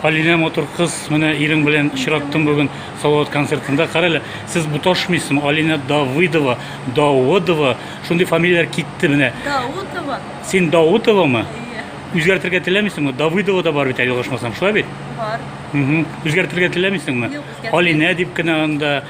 Алинә матур кыз, менә ирең белән очраттым бүген Салават концертында. Карале, сез буташмыйсызмы? Алинә Давыдова, Давыдова, шундый фамилияләр китте менә. Даутова. Син Даутовамы? Иә. Үзгәртергә теләмисеңме? Давыдова да бар бит әле ошмасам, шулай бит? Бар. Үзгәртергә теләмисеңме? Юк, Алинә дип кенә анда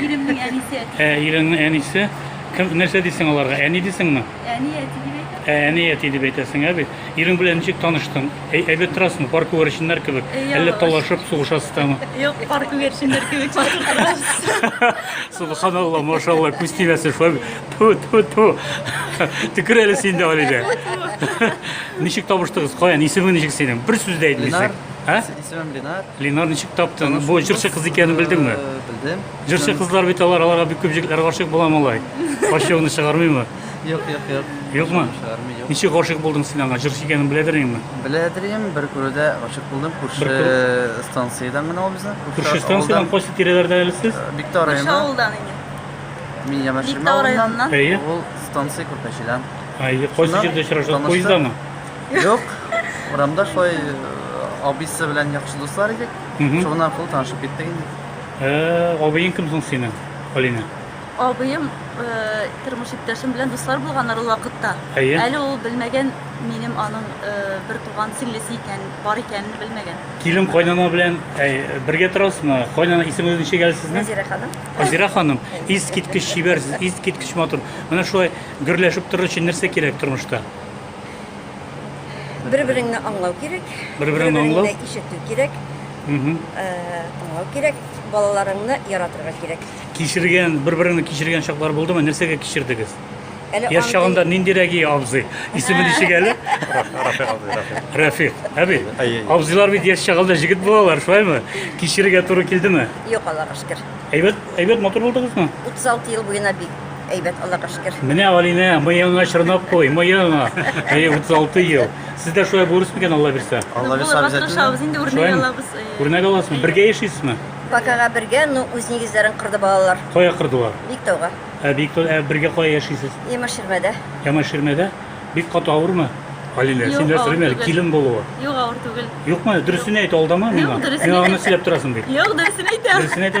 Иремнең әнисе. Ә, иреңнең әнисе. Кем, нәрсә дисең аларга? Әни дисеңме? Әни әти дип әйтә. Ә, әни әти дип әйтәсең, ә бит. Ирең белән ничек таныштың? Әй, әйбәт торасыңмы? Пар күгәрченнәр кебек. Э, Әллә ялгыш. талашып, сугышасыз тамы? Юк, пар күгәрченнәр кебек басып торабыз. Субханалла, машалла, күз тимәсен шулай. Ту, ту, ту. Төкер әле син дә Алидә. Ничек табыштыгыз? Каян? Исемең ничек синең? Бер сүз дә әйтмисең. Ленар. Ә? Исемем Ленар. Ленар ничек таптың? Бу җырчы кыз икәнен белдеңме? Э, белдем. Җырчы кызлар бит алар, аларга бик күп җегетләр гашык була малай. Ачуыңны чыгармыймы? Юк, юк, юк. Юкмы? Чыгармый, юк. Ничек гашык булдың син аңа? Җырчы икәнен беләдер инде. Беләдер инде, бер күрүдә гашык булдым. Күрше станциядән генә ул безнең. Күрше станциядән кайсы тирәләрдә әле сез? Э, Биктау районы. Күрше авылдан инде. Мин Ямаширма авылыннан. Ул станция Күрпәчедән. Ай, кайсы җирдә очраштык? Поездамы? Юк, урамда шулай э, абыйсы белән яхшы дуслар идек. Мгм. Шуның аркылы танышып киттек инде. Ә, Абыең кем соң синең, Алина? Абыем э, тормыш иптәшем белән дуслар булганнар ул вакытта. Әйе. Әле ул белмәгән минем аның э, бер туган сеңлесе икән, бар икәнен белмәгән. Килен кайнана белән әй, бергә торасызмы? Кайнана исеме ничек әле сезнең? Назира ханым. Азира ханым, искиткеч чибәрсез, искиткеч матур. Менә шулай гөрләшеп торыр өчен нәрсә кирәк тормышта? Бер береңне аңлау кирәк. Бер береңне аңлау. Ишетү кирәк. Э, тыңлау кирәк. Балаларыңны яратырга кирәк. Кичергән, бер береңне кичергән чаклар булдымы? Нәрсәгә кичердегез? Яш чагында нинди рәги абзый? Исеме ничек әле? Рәфик. Әби. Абзыйлар бит яш чагында җигет булалар, шулаймы? Кичерергә туры килдеме? Юк, Аллага шөкер. Әйбәт, әйбәт матур булдыгызмы? 36 ел буена бик әйбәт, Аллага шөкер. Менә Алинә, мыеңа чорнап кой, мыеңа. Әй, 36 ел. Сез дә шулай булырсыз микән, Алла бирсә? Алла бирсә Булырга обязательно. тырышабыз, инде үрнәк Шулаймы? алабыз. э, Үрнәк аласызмы? Бергә яшисезме? Бакага бергә, ну, үз нигезләрен кырды балалар. Кая кырдылар? Биктауга. Ә бик ә бергә кая яшисез? Имаширмәдә. Ямаширмәдә? Бик каты авырмы? Алинә, син нәрсә белмә әле, килен булуы. Юк, авыр түгел. Юкмы? Дөресен әйт, алдама миңа. Юк, дөресен Миңа гына сөйләп торасың бит. Юк, дөресен әйтәм. Дөресен әйтәм.